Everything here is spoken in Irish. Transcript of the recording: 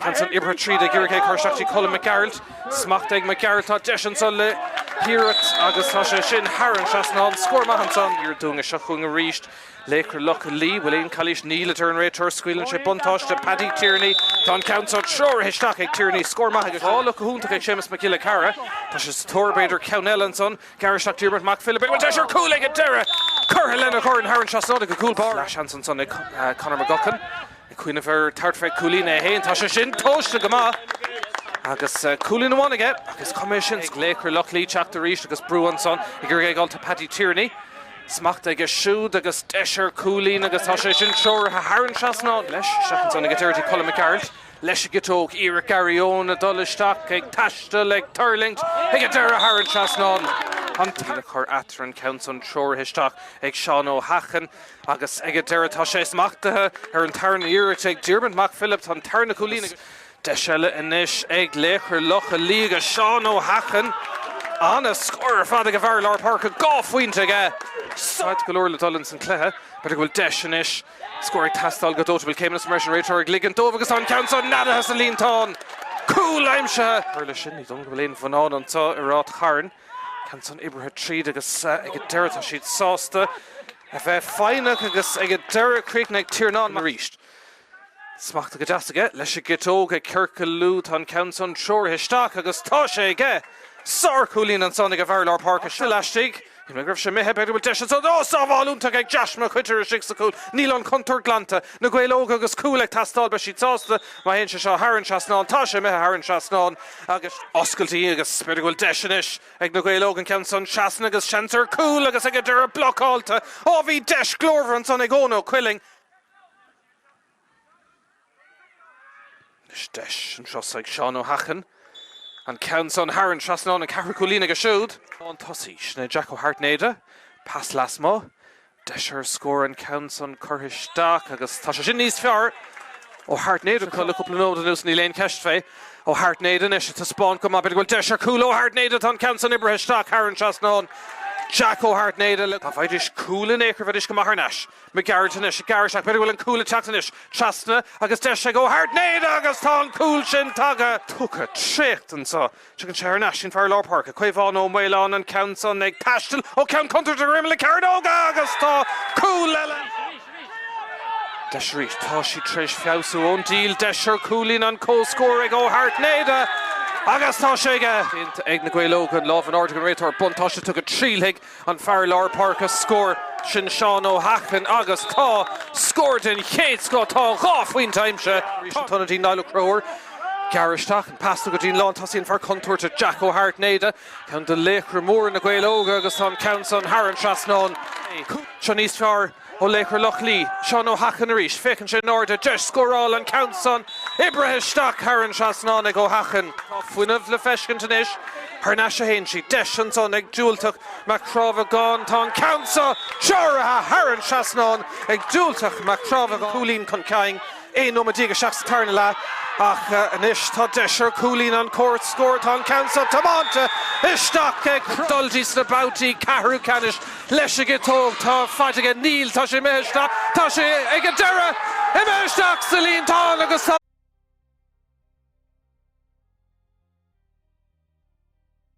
Ceann san oibrithe tríd ag iarraidh é a chur isteach trí Colm Mac Gearailt. Smacht ag Mac Gearailt tá deis annso le hiarracht agus tá sé sin thar an trasnán. Scór maith annso an iarraidh dúinn a seo chugainn arís. Laochra Loch Lao, bhfuil aon calaois? Níl, a deir an réiteoir. Scaoileann sé buntáiste Paddy Tierney. Tá an ceann san treoraithe isteach ag Tierney. Scór maith aige. Ó, block go hiontach ag Séamus Mac Giolla Cheara. Tá sé sa tóir b'fhéidir ceann eile annso. Gearradh isteach, Diarmuid Mac Philibh. Bhfuil deis ar chúl ag a deireadh curtha lena dhorn thar an trasnán ag a gcúl báire. Lasc annso ag Conor McGuckin. Ag cuimhneamh ar, tart fé cúilín a h-aon tá sé sin tomhaiste go maith. Agus cúilín amháin aige agus coimeád seilbhe ag laochra Loch Lao teacht arís agus brú ansan ag iarraidh a ghabháil do Paddy Tierney. Smacht aige siúd agus deis ar cúilín agus tá sé sin treoraithe thar an trasnán leis. Isteach ansan ag Dirty Colm Mac Gearailt. Leis an gciotóg iarracht Garryowen a dul isteach ag taisteal ag tuirlingt ag an deireadh thar an trasnán. An t-aon scór eatarthu an ceann san treoraithe isteach ag Seán Ó hEacháin. Agus ag an deireadh tá sé smachtaithe ar an tarna iarracht ag Diarmaid Mac Philibh an tarna cúilín agus deis eile anois ag Laochra Loch Lao ag Seán Ó hEacháin. An-scór ar fad ag an bhfear i lár páirce, dhá phointe aige. Fad go leor le dul ins an cluiche. B'fhéidir go bhfuil deis anois scór ag teastáil go dóite, an bhfuil. Céimeanna ansan, réiteoir ag ligint dóibh agus tá an ceann san neadaithe sa líontán. Cúl aimsithe! Tar éis sin, ní dóigh go bhfuil aon bhonnán annso i Ráth Chairn. Ceann san oibrithe tríd agus ag a deireadh tá siad sásta a bheith foighneach agus ag a deireadh críoch ag Tiarnán arís. Smacht go deas aige leis a gciotóg ag ciorcalú tá an ceann san treoraithe isteach agus tá sé aige! Sár-chúilín ansan ag a bhfear lár páirce is iúl laistigh. Shíl mé go raibh sé imithe, b'fhéidir go bhfuil deis ansan, oh sábháil iontach ag Josh Mac Uaitéir istigh sa cúl, níl an chontúirt glanta, Na Gaeil Óga agus cúl ag teastáil beidh siad sásta má théann sé seo thar an trasnán, tá sé imithe thar an trasnán. Agus oscailtí agus b'fhéidir go bhfuil deis anois ag Na Gaeil Óga an ceann san trasna agus seans ar chúl agus ag an deireadh blocáilte. Ó bhí deis glórmhar ansan ag Eoin Ó Cuilinn. Anois deis anseo ag Seán Ó hEacháin. An ceann san thar an trasnán an ceathrú cúilín acu siúd. An tosaí sin ná Jack Ó hAirtnéide. Pas lasmuigh. Deis ar scór an ceann san curtha isteach agus tá sé sin níos fearr ó Ó hAirtnéide le cúpla nóimead anuas. Níl aon cheist fé. Ó hAirtnéide anois ag taispeáint go maith. B'fhéidir go bhfuil deis ar cúl Ó hAirtnéide. Tá an ceann san oibrithe isteach thar an trasnán. Jack Ó hAirtnéide. Dá bhfaighidís cúl in aon chor bheidís go maith thar n-ais. McGarrett anois ag gearradh isteach. B'fhéidir go bhfuil an cúl ag teacht anois. Trasna agus deis ag Ó hAirtnéide agus tá an cúl sin tagtha. Tugtha, traochta anso. Tugann sé thar n-ais sin fear Lár Páirce, Caomhán Ó Maoileáin, an ceann san ag taisteal ó cheann cúntúirt go dtí imeall na cearnóige agus tá cúl eile. Deis arís. Tá siad tar éis feabhsú ón díol deis ar chúilín an comhscór ag Ó hAirtnéide agus tá sé aige. Déanta ag na Gaeil Óga an lámh in airde ag an réiteoir buntáiste á thugadh, triail aige An fear lár páirce scór, sin Seán Ó hEacháin agus tá scór den chéad scoth, tá dhá phointe aimsithe arís, an t-ionadaí Niall Ó Conchúir. Gearr isteach, an pas tugtha dtí an lántosaí, an fear contúirteach Jack Ó hAirtnéide, ceann de laochra móra Na Gaeil Óga agus tá an ceann san thar an trasnán. Seo níos fearr. Ó Laochra Loch Lao, Seán Ó hEacháin arís, féachann sé in airde, deis scórála, an ceann san, oibrithe isteach thar an trasnán ag Ó hEacháin. Fuinneamh le feiscint anois, thar n-ais a théann siad, deis ansan ag Dubhaltach Mac Crábhagáin, tá an ceann so sáraithe thar an trasnán ag Dubhaltach Mac Crábhagáin, cúilín chun cinn. Aon nóiméad déag isteach sa tarna leath ach anois tá deis ar chúilín an Chúirt scór. Tá an ceann seo tiomáinte isteach ag dul dtí sna babhtaí ceathrú ceannais. Leis an gciotóg tá faid aige, níl. Tá sé imithe isteach. Tá sé ag an deireadh imithe isteach sa líontán agus tá.